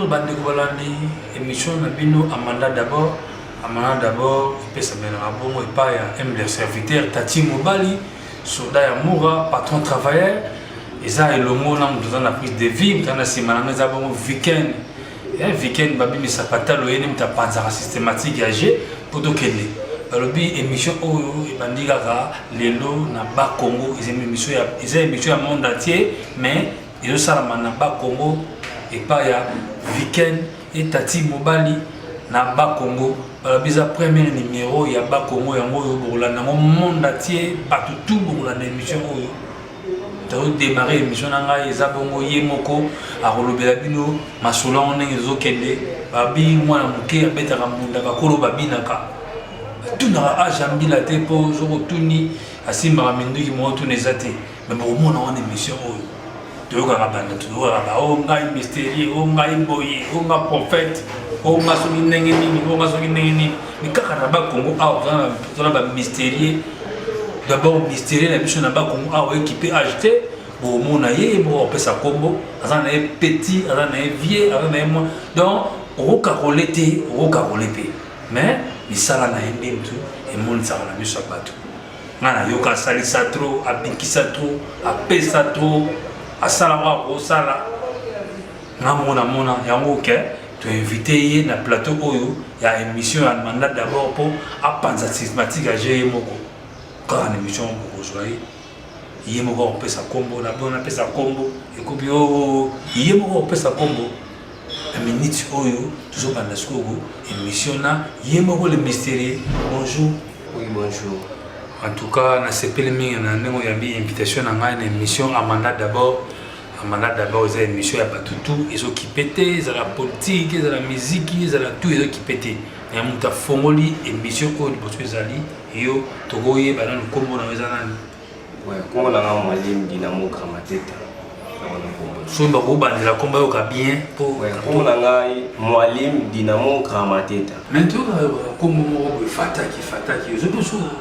bandeko balandi émission na bino amanda d'abord amanda d'abord epesamelaka bongo epai ya mdr serviteur tati mobali soda ya mura patron travailleur eza elongo na moto eza na prise de vie moto eza na nsima na nga eza bongo weekend eh, weekend babimisa patalo ye nemta apanzaka systématique ya jeu mpo tokende balobi émission oyo ebandi kaka lelo na ba congo eza émission ya monde entier mais ezosalama na ba congo epai ya weekend etati mobali na ba congo balobi eza premier numéro ya ba congo yango oyo bokolanda yango monde entier bato tu bokolanda émission oyo tozodemarre émission na ngai eza bongo ye moko akolobela bino masolo yango ndenge ezokende babi mwana moke abetaka mbunda bakolo babinaka atunaka age ya mbila te mpo soki otuni asimbaka minduki moko tuna eza te me bokomona wana émission oyo toyokaka banda toyokaka ba o oh, ngai mysterieux o oh, ngai boye o oh, nga prophète o nga soki ndenge nini o nga soki ndenge nini mais kaka na ba Congo awa toza na ba mystérieux d'abord mystérieux na biso na ba Congo awa ekipe HT bomona ye moko opesa kombo aza na ye petit aza na ye vieux aza na ye mwa donc okokakole te okokakole mpe mais misala na ye nde motu emonisaka na miso ya bato ngai nayoka asalisa trop abikisa trop apesa trop asala oyo akosala nga moko namona yango ke toinvite ye na plateau oyo ya émission ya mandat d'abord mpo apanza systematique ya ge ye moko kaka na émission bokozwa ye ye moko akopesa nkombo na bo napesa nkombo ekobi o oh, oh, oh. ye moko akopesa nkombo na minute oyo tozobanda sikoyo émission na ye moko le mysterieux bonjour oui bonjour en tout cas nasepeli mingi na ndenge oyambi invitation na ngai na émission amanda d'abord Amana d'abord eza émission ya bato tout ezokipe te ezala politike ezala miziki ezala tout ezokipe te ya moto afongoli émission oyo liboso ezali yo tokoyeba nanu nkombo na yo eza nani nkombo na ngai malimbi na mokra mateta soki bakobandela nkombo yoka bien nkombo na ngai moalim dinamo gramateta me toyoka nkombo moko boye fataki fataki ozoki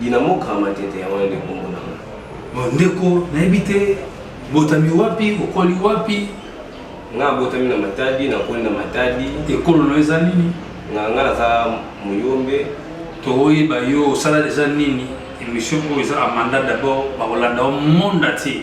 Dinamo Grand Matete yango nde kombo na nga. Bon ndeko nayebi te botami wapi okoli wapi? Nga botami na Matadi nakoli na Matadi. Ekolo na yo eza nini? Nga nga naza Muyombe. Toyeba yo osala deja nini? Emission oyo eza Amanda d'abord bakolanda yo monde entier.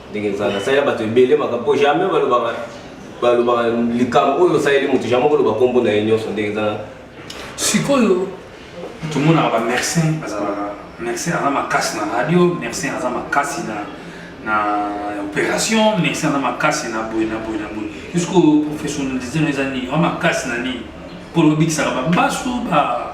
ndenge eza nasalela bato ebele makambo mpo jamais balobaka balobaka likambo oyo osaleli moto jamais koloba nkombo na ye nyonso ndenge eza sikoyo tomonaka bamercin bazalaka mercin aza makasi na radio mercin aza makasi na na opération mercin aza makasi na boye na boye na boye jusqu'au professionnalisation eza nini aza makasi na nini mpo lobikisaka babasu ba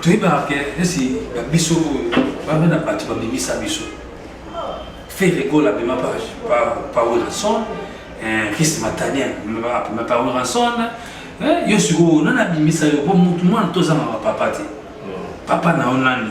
toyebaka ke nesi babiso oyo bana na bato babimisa biso fere gola abima pa wilson chris matanien abima pa wilson yo sikoyo nani abimisa yo po motu mwana tozangaka papa te papa na yo nani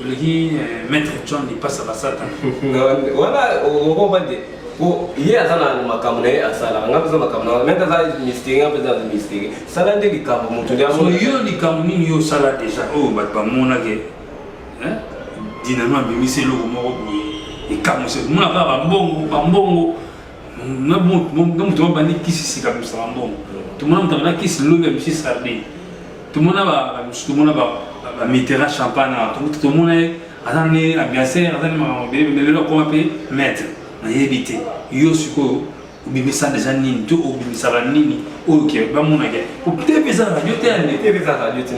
oleki eh, maître john lipasa basata wana okobande po ye aza na makambo na ye asalaka nga mpenza makambo na mete aza mysteri nga mpenza aza mysteri sala nde likambo moto yo likambo nini yo osala deja oyo bato bamonake dinano abimisi eloko moko boye ekamwisi mona kaka bambongo bambongo na moto babandi kisi sika mosaka mbongo tomona moto abanda kisi lobi ya misi sardine tomona bamosusu tomona bamitera champagne awa tomona ye aza ne ambianceur aza ne makambo ebele me lelo akoma mpe maître nayebi te yo sikoyo obimisa deja nini to obimisaka nini oyo ke bamonaka po tv eza radio te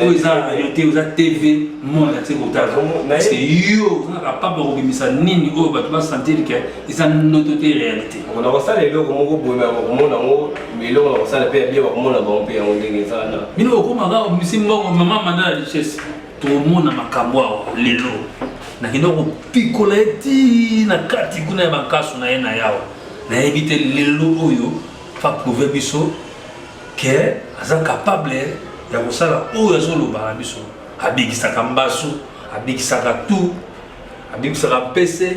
oyo eza radio te oza tv monde ati kotala parce que yo ozalaka papa kobimisa nini oyo bato basentir ke eza noto te réalité on a kosala eloko moko boye na bakomona yango eloko na kosala mpe ya bie bakomona bango mpe yango ndenge eza na bino okomaka misi mbongo mama manda la richesse tomona makambo awa lelo nakenda kopikola ye ti na kati kuna ya bankasu na ye na yawa nayebi te lelo oyo fa prouve biso ke aza capable ya kosala oyo azoloba na biso abikisaka mbasu abikisaka tu abikisaka mpese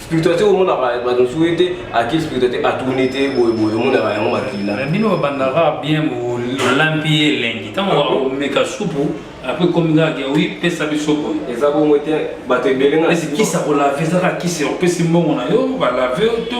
spiritualité omonaka bato mosusu ye te ake spiritualité atourne te boyeboye omonaka yango makila eh, bino babandaka bien olambi ye elengi ntango ah omeka supu apres ekomi kaka ke wi pesa biso boye eza bongo te bato ebele naekisa kolave ezaka kisi opesi mbongo na yo balave to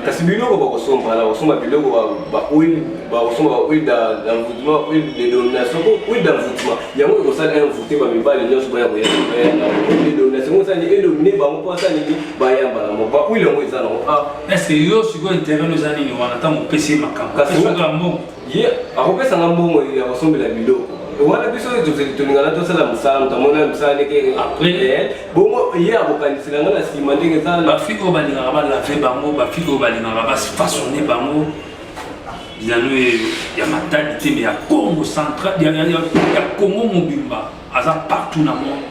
kasi biloko bakosomba na kosomba biloko bakosomba bahuile d'envoutement huile de domination huile d'envoutement yango ekosala un vote ba mibali nyonso baya koyaaedomination osani edomine bango mpo asani nini baya mbala moko bakwili yango eza nango ah. est-ce que yo sikoyo intérêt oza nini wana ntango opesi ye makambo kasi mbongo ye akopesanga mbongo ya kosombela biloko wana biso tolingana tosala mosala moto amona mosala ndenge eh, bongo ye akokanisela nga na nsima ndenge eza bafiki oyo balingaka balave bango bafiki oyo balingaka bafasone bango bizalo ya matadi te mais ya congo central ya congo mobimba aza partout na monde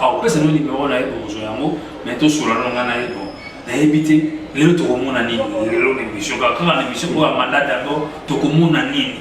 akopesa no nimero na ye bokozwa yango mais tosola no ngai na ye bon nayebi te lelo tokomona nini lelo na émission kaka kaka na émission oyo ya mandat d'abord tokomona nini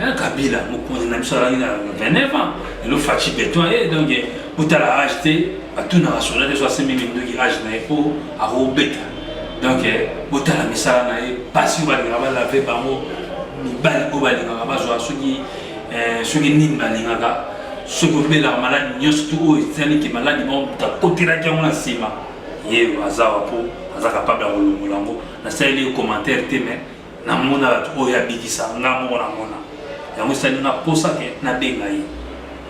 Eh, kabila mokonzi na biso alaki na 29 ans elo faci beton ye eh, donc eh, botala age te batunaka soda te so asembi minduki age na ye mpo akobeta donc botala misala na ye mpasi oyo balingaka balave bango mibali oyo balingaka bazwa soki soki nini balingaka soki obelaka maladi nyonso tu oyo etali ke maladi moko moto akotelaki yango na nsima ye aza wa mpo aza kapable ya kolongola yango nasaleli ye commentaire te mais namona bato oyo abikisa nga moko namona yango esali nga mposa ke nabenga ye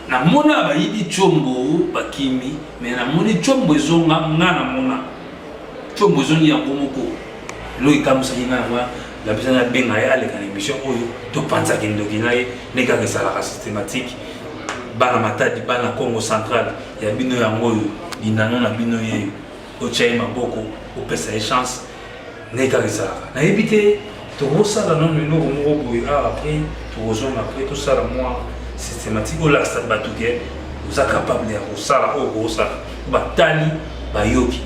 namona bayibi combo bakimi me namoni combo ezonga nga namona combo ezongi yango moko eloko ekamwisaki nga yango napesa nabenga ye aleka na émission oyo topanzaki ndoki na ye ndenge kaka esalaka systématique bana matadi bana congo central ya bino yango oyo linano na bino yeyo otya ye maboko opesa ye chance ndenge kaka ezalaka nayebi te tokosala nano eloko moko boye awa ah, apres tokozonga apres tosala mwa systématique olakisa bato ke oza capable ya kosala oyo okosala batali bayoki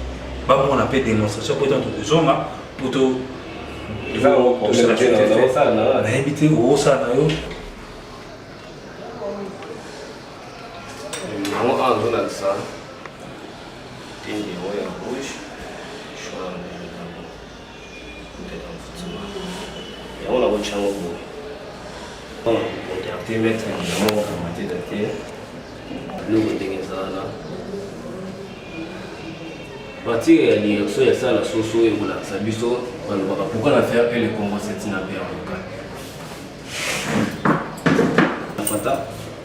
bamona mpe démonstration mpo etanto kozonga mpo to nayebi te okosala na yo Numéro 1 azolakisa te numéro ya rouge choix yango nakotya yango boye contacte maître yango akamate date biloko ndenge eza wana partir ya direction ya sala soso ekolakisa biso balobaka pourkui na faire ele congo setina mpe ya moka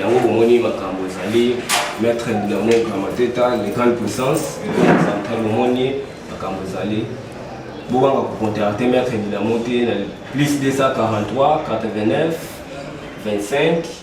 yango bomoni makambo ezali maître dinamo gramateta les grandes puissances central bomoni makambo ezali bobanga kocontacte maître dinamo te na plus 243 89 25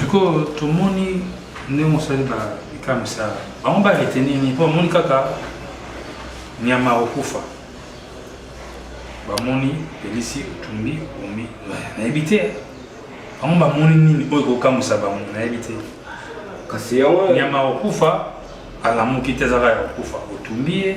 Sikoyo tomoni ndenge osali ba likamisa bango ba retenir nini mpo bamoni kaka nyama akokufa bamoni pelisi otumbi omi nayebi te bango bamoni nini oyo ekokamwisa bango nayebi te kasi yango nyama akokufa alamuki te azaka ya kokufa otumbi ye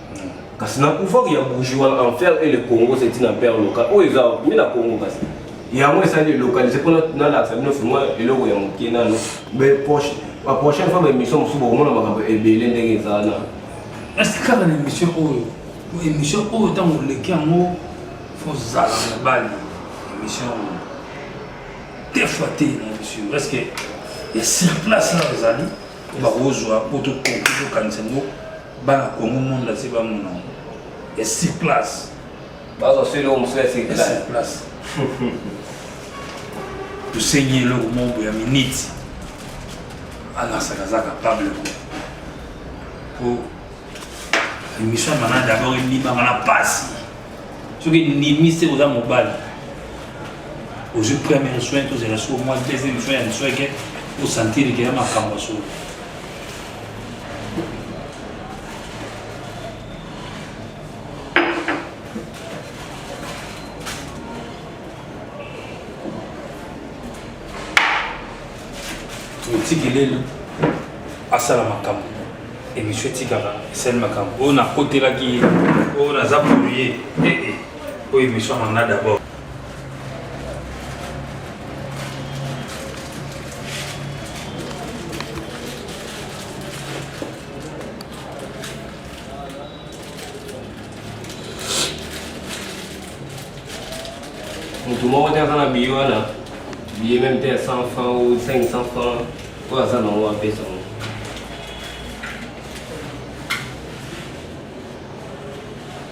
kasi na pouvoir ya bougie wana enfer et le congo c'est une empire local oyo eza mi na congo kasi yango esali localize mpona nalakisa bino fimwa eloko ya moke nano ba prochaine fois baémission mosusu bokomona makambo ebele ndenge eza wana esi kaka na émission oyo émission oyo ntango oleki yango fozala na bali émission oyo te fois te na émission parce que ya sur place na ezali bakozwa mpo tokoki tokanisa yango Bana Congo monde ase ba mona ya sur place. Bazo sele omo sele sur place. Sur place. Tu sais ni le monde ya minute. Ana sakaza capable ko. Ko émission mana d'abord ni ba mana passe. Ce qui ni mi c'est aux amours ozwi premier soin tozela so mwa deuxième soin ya soin ke osentir ke ya makambo ya solo otikelelo asala makambo emission etikaka esali makambo oyo nakotelaki ye oyo naza polye eh, eh. oyo emission yango na d'abord moto moko te aza na biye wana biye meme te ya 100 franc ou 500 franc oyo aza nango apesa ngo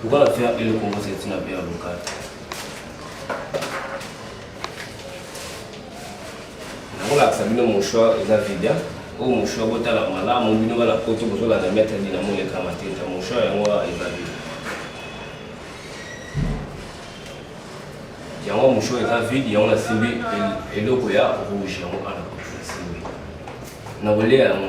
Pourquoi la faire et le Congo c'est une affaire locale nakolakisa bino mouchoir eza vida oyo mouchoir botala malamu bino bana poto bozolanda maître dinamo lekama te ta mouchoir yango eza vida yango mouchoir eza vide yango nasimbi eloko ya rouge yango ana nasimbi nakolia yango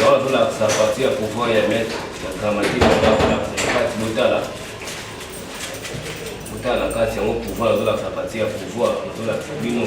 Yawa tolakisa parti ya pouvoir ya maître ya grammatique azolakisa kati botala botala na kati yango pouvoir azolakisa parti ya pouvoir azolakisa bino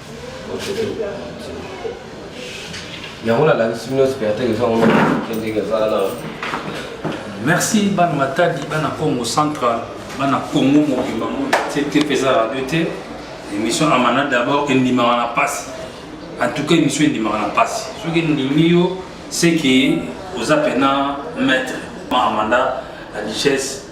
yango nalakisi bino spectacle eza ngo ndenge eza na merci bana matadi bana congo central bana congo mobimba mona te te mpeza radio te émission amana d'abord endimaka na mpasi en tout cas émission endimaka na mpasi soki endimi yo seke oza mpena maître amanda la richesse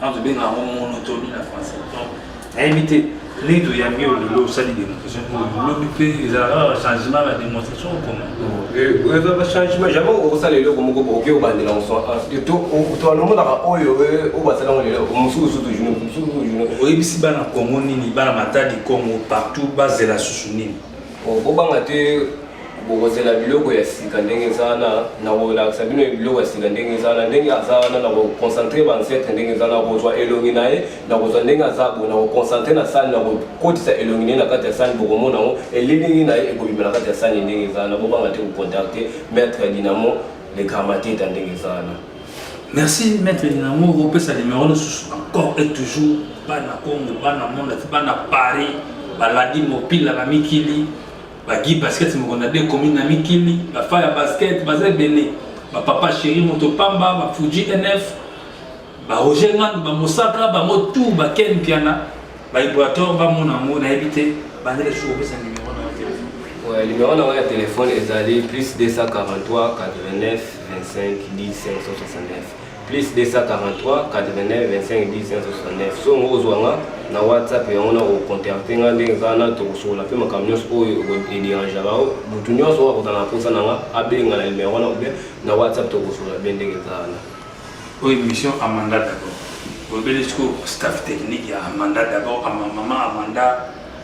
Non, tu benga yango monotonie na français. Donc, nayebi te ndenge toyambi yo lelo osali démonstration oyo lobi mpe ezalaka changement na démonstration okoma eza bachangement jamais okosala eloko moko bokoki obandela mosotoalomonaka oyo oyo basalango lelo mosusu toujours mosusu toujours oyebisi bana congo nini bana matadi congo partout bazela susu nini Bon, bobanga te bokozela biloko ya sika ndenge eza wana na kolakisa bino biloko ya sika ndenge eza wana ndenge aza wana na koconcentre baancetre ndenge eza na kozwa elongi na ye na kozwa ndenge aza bo na koconcentre na sani na kokotisa elongi na ye na kati ya sani bokomona yango elilingi na ye ekobima na kati ya sani ndenge eza wana bobanga te kocontacte maître ya dinamo le gramateta ndenge eza wana Merci maître Dinamo bopesa numéro lisusu encore et toujours bana Congo bana monde ati bana Paris baladi mopila na mikili bagi basket moko na de commune na mikili bafa ya basket baza ebele bapapa chéri moto pamba bafuji nf baroger ngandu bamosaka bango tour baken mpiana baibrator bamona yango nayebi te banda lisusu kopesa numéro na yo telefone numéro na yango ya telefone ezali plus 243 89 25 10 569 plus 243 89 25 10 569 so yango ozwa nga na whatsapp yango na kocontacte nga ndenge kaka na tokosokola mpe makambo nyonso oyo ederangea bango motu nyonso oyo akozala na mposa na nga abenga na nimero wana obe na whatsapp tokosokola mpe ndenge kaka na oyo émission amanda d'abord obele sikoyo staff technique ya amanda d'abord ama mama amanda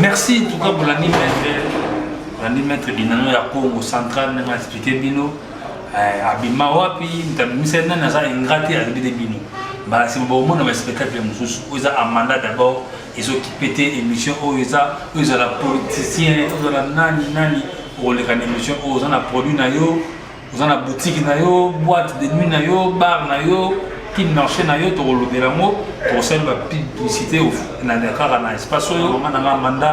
Merci en tout cas bolandi maître bolandi maître binano ya Congo central ndenge expliquer bino eh, abima wapi ntabimisa ye nani aza ingrat te alobi de bino mbala nsima bakomona baspectacle mosusu oyo eza amanda d'abord ezokipe te émission oyo eza oyo ezala politicien ozala nani nani okoleka na émission oyo oza na produit na yo oza na boutique na yo boîte de nuit na yo bar na yo kin marché na yo tokolobela yango tokosali bapublicité na kaka na espace oyo mama na ngai manda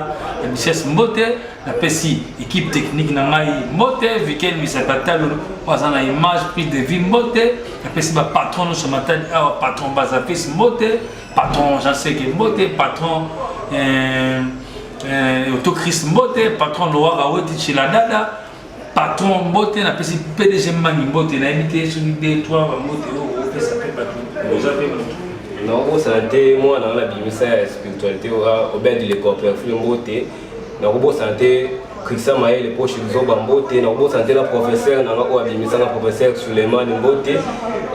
ya bises mbote napesi équipe technique na ngai mbote vikel misatatalo oyo aza na image prise de vie mbote napesi bapatron nyonso matali awa patron bazapesi mbote patron jean seke mbote patron euh, euh, autochrist mbote patron lowaka weti chila dada patron mbote napesi pdg mangi mbote nayebi te soki de toi bambote oyo opesa mpe bato oza mpe moto nakobosana te mwana wana abimisa ya spiritualité obedi le corperfule mbote nakobosana te krista mayele mpo shizoba mbote nakobosana te na professeur nanga oyo abimisanga professeur suleiman mbote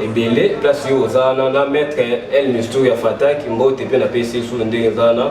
ebele place oyo oza wana na maître el mistour ya fataki mbote mpe napesi esu ndenge eza wana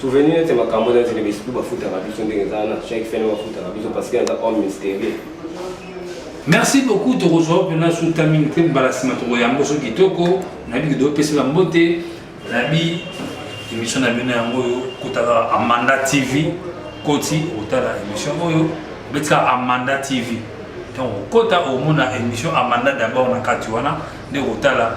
Souvenir neti makambo eza nzela bisi mpe bafutaka biso ndenge eza wana chaque fin bafutaka biso parce que aza homme mystérieux merci beaucoup tokozwa mpena suta mingi te mbala nsima tokoyambo so kitoko nayebi kido opesela mbote nayebi émission na bino yango oyo kotaka amanda tv koti otala émission oyo obetika amanda tv donc okota omona émission amanda d'abord na kati wana nde kotala